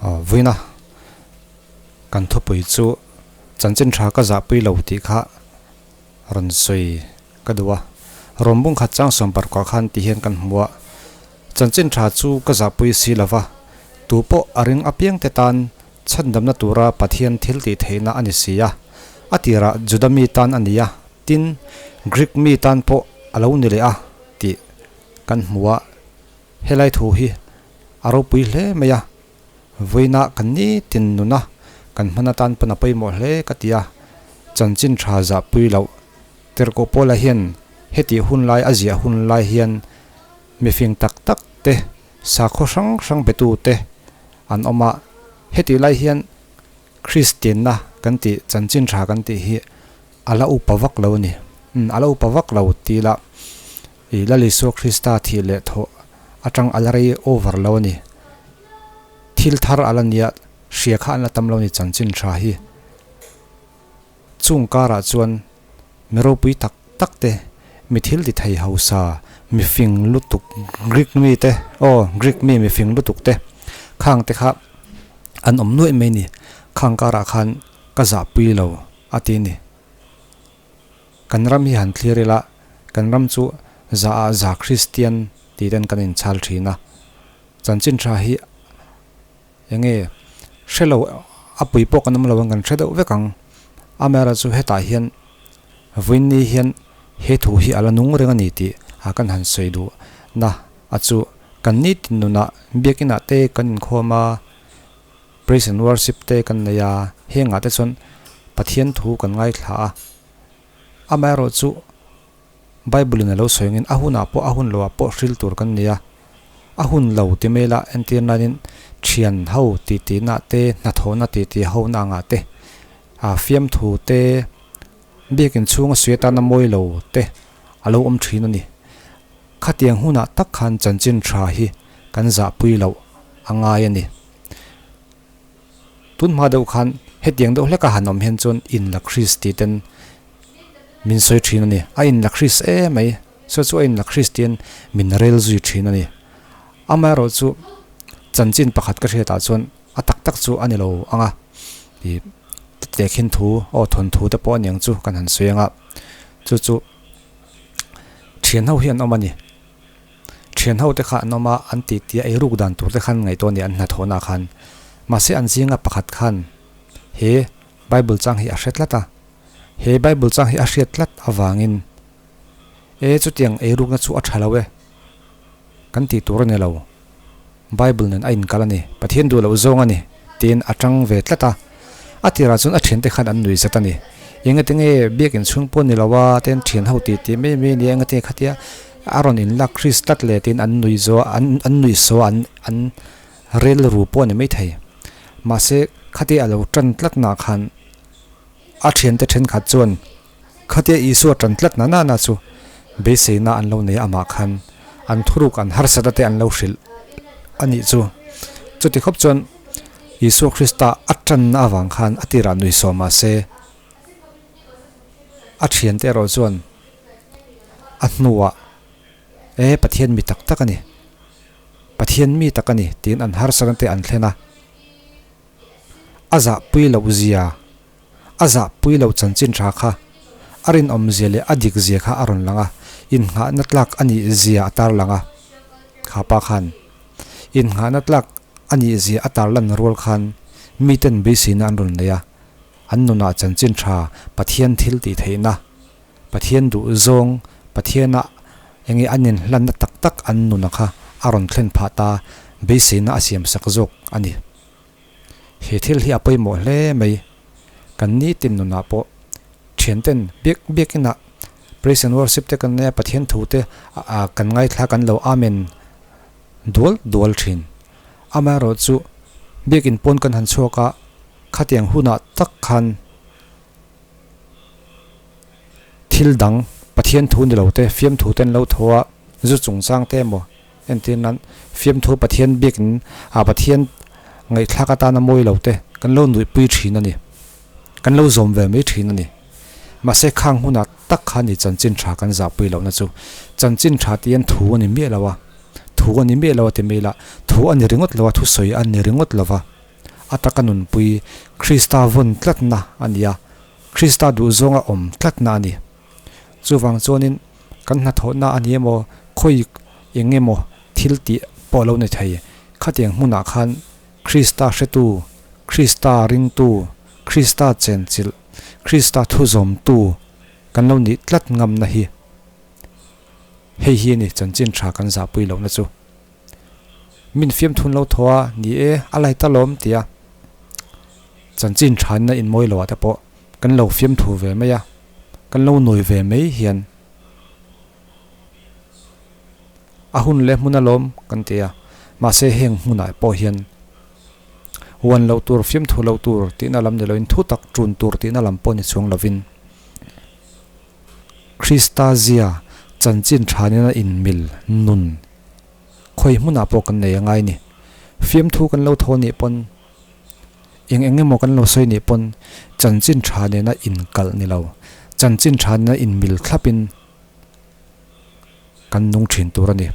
Vuina, kan thupui chu chanchin tha ka zah pui lo tih kha rawn sawi ka duh a, rawmbung khat chang sawmpar kuah khan tih hian kan hmu a, chanchin tha chu ka zah pui si lo va, tu pawh a ring apiang te tan chhandamna tura Pathian thil tih theihna a ni si a, a tirah Juda mi tan a ni a, tin, Greek mi tan pawh a lo ni leh a tih kan hmu a. Helai thu hi a ropui hle mai a, vawiinah kan ni tin nuna kan hman atan pawn a pawimawh hle ka ti a, chanchin tha zah pui loh. Tirhkoh Paula hian heti hun lai a ziah hun lai hian mifing tak tak te, sakhaw hrang hrang betu te an awm a, heti lai hian Kristianna kan tih chanchin tha kan tih hi a la upa vak lo a ni, umm a la upa vak lo ti ila. I Lal Isua Krista thih leh thawh atang a la rei over lo a ni. Thil thar a la nia, hria kha an la tam lo a ni chanchin tha hi. Chung karah chuan mi ropui tak tak te, mi thil ti thei hausa, mi fing lutuk Greek mi te, aw, Greek mi mi fing lutuk te, khang te kha an awm nuaih mai a ni. Khang karah khan ka zahpui lo a ti a ni. Kan ram hi han thlir ila, kan ram chu za ah za Kristian tih ten kan in chal thin a. Chanchin tha hi enge hre lo a pui pawh kan awm lo ang kan hre deuh vek ang. Amera chu hetah hian Vinny hian he thu hi ala nung reng a ni tih a kan han sawi duh na a chu kan nitin nunah biak inah te kan inkhawm a. Praise and Worship te kan nei a, hengah te chuan Pathian thu kan ngaithla a. Amaherawh chu Bible-in a lo sawingin a hunah pawh, a hun loah pawh hril tur kan nei a. A hun lo ti mela entir nainin thian ho titihna te, hnathawhna titih hona angah te, aa fiam thu te, biakin chhunga suih atana mawi lo te a lo awm thin a ni. Khatiang hunah tak khan chanchin tha hi kan zahpui loh a ngai a ni. tun hma deuh khan hetiang deuh hleka han awm hian chuan in lakris tih ten min sawi thin a ni a in lakris em mai saw chu a in lakris tih in min rel zui thin a ni ama erawh chu chanchin pakhat ka hriatah chuan a tak tak chu a ni lo ang a ih tehkhin thu aw thawnthu te pawh aniang chu kan han sawi ang a chu chu thianho hi an awm a ni. Thian hote kha an awm a, an tihtia ei ruk dan turte khan ngaihtuah nia an hnathawhnaah khan. Mahse an zinga pakhat khan he Bible chang hi a hre tlat a. He Bible chang hi a hriat tlat avangin, E chutiang ei rukna chu a tha lo e, kan tih tur a ni lo. Bible nun a inkal a ni, Pathian duh loh zawng a ni, tiin a ṭang ve tlat a. A tirah chuan a ṭhente khan an nuihzet a ni. Engati nge biakin chhung pawn ni lo a, te an ṭhian ho tih tih mai mai a nia, engati nge khatia a rawn inlak Kris tlat le tiin an nuih zo an an nuih saw a an relru pawh a ni maithei. Mahse, khatia a lo ṭan tlat nakhan a ṭhiante ṭhenkhat chuan, Khatia Isua ṭan tlat na nana chu beiseina an lo nei amah khan an thuruk an harsata te an lo hrilh a nih chu. Chuti khawp chuan Isua Krista a ṭanna avang khan a tirah nui sawm mah se, a ṭhian te erawh chuan a hnuah e Pathian mi tak tak a ni, Pathian mi tak a ni tiin an harsatna te an thlen a, a zahpui loh zia, a zahpui lo chanchin tha kha a rinawmzia leh a dikzia kha a rawn lang a, innghahna tlak a nih zia a tarlang a. Khapa khan, innghahna tlak a nih zia a tarlan rual khan miten beiseina an rawn nei a, an nunah chanchin tha, Pathian thil tih theihna, Pathian duhzawng, Pathiana enge a ninhlanna tak tak an nuna kha a rawn thlen phah ta beiseina a siamsak zawk a ni. He thil hi a pawimawh hle mai. Kan nitin nunah pawh thianten biak biakinah Praise and Worship te kan ngaia Pathian thute kan ngaithla kan lo Amen dual dual thin. Amaherawhchu chu biakin pawn kan han chhuak a, khatiang hunah tak khan thil dang Pathian thu ni lote fiamthute an lo thaw a, zu chungchangte emaw, Engtin an fiamthu Pathian biakin a Pathian ngaihthlak atana mawilote kan lo nuihpui thin a ni, kan lo zawm ve mai thin a ni. Mahse khang hunah tak kha a ni chanchin tha kan zahpui lohna chu. Chanchin tha tih hian thu a ni miah lo a, thu a ni miah lo a ti mai ila, thu a ni ringawt lo a, thusawi a ni ringawt lova a taka nunpui Krista vawn tlatna a ni a, Krista duhzawnga awm tlatna a ni. Chuvang chuanin kan hnathawhna a ni emaw, khawi eng emaw thil tih pawh a lo ni thei. Khatiang hmunah khan Krista hretu, Krista ringtu, Krista chenchilh, Krista thu zawmtu kan lo nih tlat ngamna hi hei hi a ni, chanchin tha kan zahpui lohna chu. Min fiamthun lo tho a, ni e, a lai ta lawm tia chanchin thain a inmawi lo ah te pawh, kan lo fiam thu ve mai a, kan lo nawi ve mai hian a hun leh hmuna lawm kan ti a, mahse heng hmunah pawh hian uan lo tur, fiam thu lo tur tihna lam ni loin thu tak tun tur tihna lam pawh ni chuang lovin Krista zia chanchin thanin a inmil nun khawi hmunah pawh kan nei a ngai a ni. Fiam thu kan lo tho nih pawn Eng eng emaw kan lo sawi nih pawn chanchin tha nena inkalh ni lo, chanchin tha nena inmil thlapin kan nung thin tur a ni.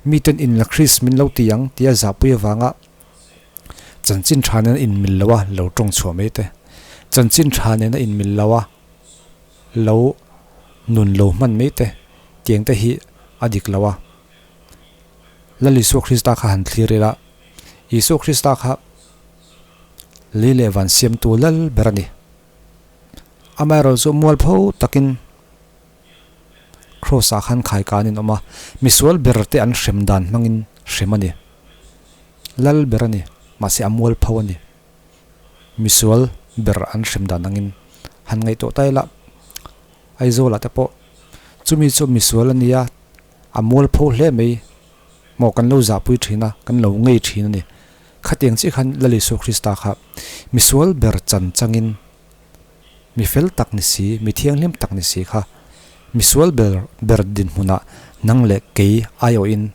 Miten in la Krist min lo ti ang tia zahpui avanga chanchin tha nena inmil loha lo tawng chhuah mai te, chanchin tha nena inmil loha lo nun lo hman mai te tiang te hi a dik lo a. Lal Isua Krista kha han thlir ila. Isua Krista kha lei leh van siamtu lal ber a ni. Amaherawh chu mual pho takin Kraws ah khan khai ka an inawm a, misual ber te an hrem dan hmangin hrem a ni. Lal ber a ni, mahse a mual pho a ni. Misual ber an hrem dan angin han ngaih tawh ta ila, Aizawla te pawh chumi chu misual a nia, A mual pho hle mai. Maw kan lo zahpui thin a, kan lo ngei thin a ni. Khatiang chiah khan Lal Isua Krista kha misual ber chan changin mi fel tak ni si, mi thianghlim tak ni si kha misual ber ber dinhmunah nang leh kei aiawhin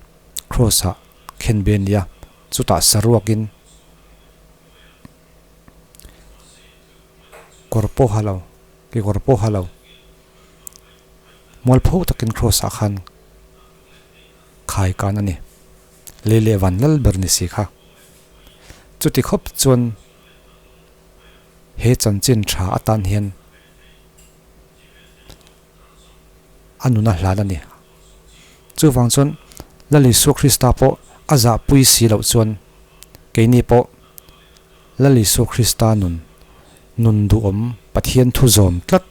Kraws ah khen ve nia. Chutah saruakin kawr pawh ha lo, kekawr pawh ha lo. mual phûk takin Kraws ah khan khai kân a ni. Lei leh vân lal ber ni si kha. Chuti khawp chuan he chanchin ṭha atan hian a nuna hlan a ni. Chuvang chuan Lal Isua Krista pawh a zahpui si loh chuan keini pawh Lal Isua Krista nun, nun duhawm Pathian thu zawm tlat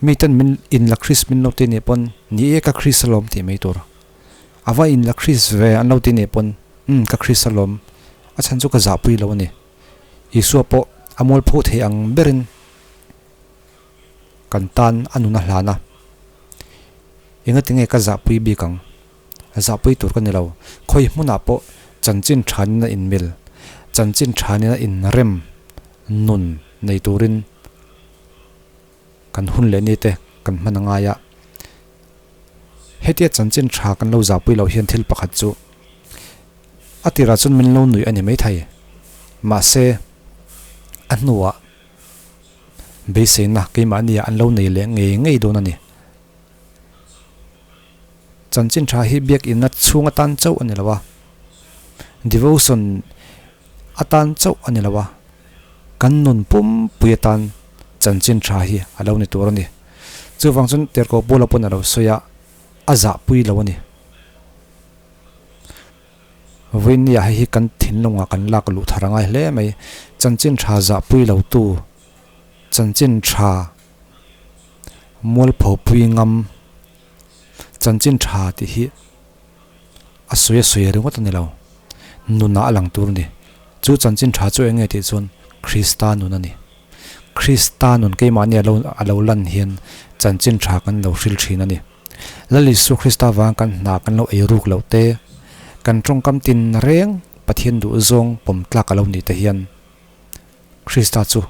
mi ten min inla Kris min lo ti nih pawn ni e ka Kris alawm tih mai tur a va inla Kris ve an lo ti nih pawn umm ka Kris alawm a chhan chu ka zahpui lo a ni. Isua pawh a mual phu theih ang berin kan tan a nuna hlan a, engatinge ka zahpui bik ang? Zahpui tur ka ni lo. Khawi hmunah pawh chanchin thanin a inmil, chanchin thanin a inrem nun nei turin kan hun leh nite kan hman a ngai a. Hetia chanchin tha kan lo zahpui loh hian thil pakhat chu a tirah chuan min lo nuih a ni maithei. Mahse, a hnuah beiseina keimahniah an lo nei leh ngei ngei dawn a ni. Chanchin tha hi biakinna chhung atan chauh a ni lo a, devotion atan chauh a ni lo a, kan nun pumpui atan chanchin tha hi a lo ni tur a ni. Chuvang chuan Terkawpula pawn a lo sawi a, a zahpui lo a ni. Vawinia hei hi kan thinlungah kan lak luh thar a ngai hle mai. Chanchin tha zahpui lo tu, chanchin tha mualpho pui ngam, chanchin tha tih hi a sawi a sawi ringawt a ni lo nunah a lang tur a ni chu chanchin tha chu eng nge tih chuan krista nun a ni krista nun keimahni alo alo lan hian chanchin tha kan lo hril thin a ni lal isu krista vang kan hna kan lo ei ruk lo te kan tawngkam tin reng pathian duh zawng pawm tlak alo ni te hian krista chu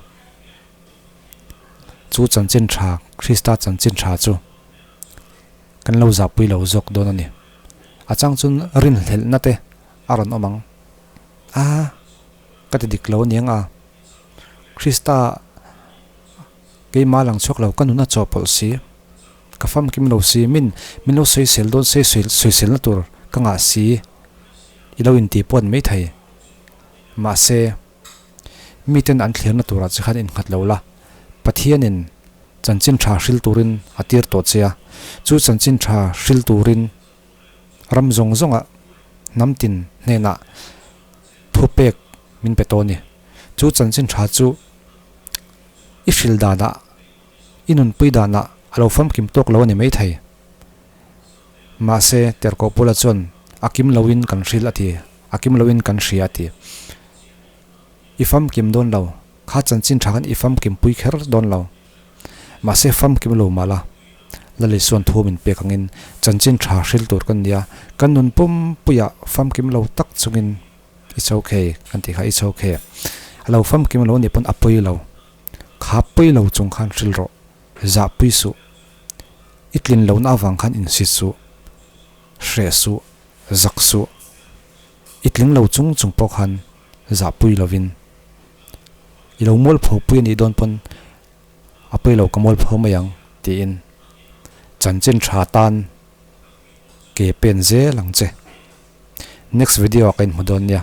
chu chanchin tha Krista chanchin tha chu kan lo zahpui lo zawk dawn a ni. A chang chun rinhlelhna te a rawn awm ang. A ka ti dik lo a niang a, Krista keimah lang chhuak lo ka nun a chaw pawlh si, ka famkim lo si, min min lo sawisel dawn se sawiselna tur ka ngah si i lo inti puan mai thei. Mahse, Miten an thlir na turah chi khan in nghat lo la, Pathianin chanchin tha hril turin a tir tawh che a. Chu chanchin tha hril turin ram zawng zawnga hnamtin hnenah thu pek min pe tawh a ni. Chu chanchin tha chu i hril danah I nunpui danah a lo famkim tawk lo a ni mai thei. Mahse, Terkaw Pula chuan, A kim loin kan hrilh a ti, a kim loin kan hria a ti. I famkim dawn lo, kha chanchin tha khan i famkim pui kher dawn lo. Mahse, famkim lo mah la, Lali chuan thu a min pek angin, Chanchin tha hril tur kan nia, kan nun pum puiah famkim lo tak chungin it's ok kan tih kha it's ok. A lo famkim lo a ni pawn a pawi lo. Khap pui lo chung khan hril rawh, zah pui suh, i tlin lohna avang khan insi suh, hreh suh, zak suh, i tling lo chung chung pawh khan zah pui lovin i lo mualpho pui a nih dawn pawn a pawih lo ka mualpho mai ang tiin chanchin tha tan ke pen zel ang che. Next video ah ka inhmu dawn nia.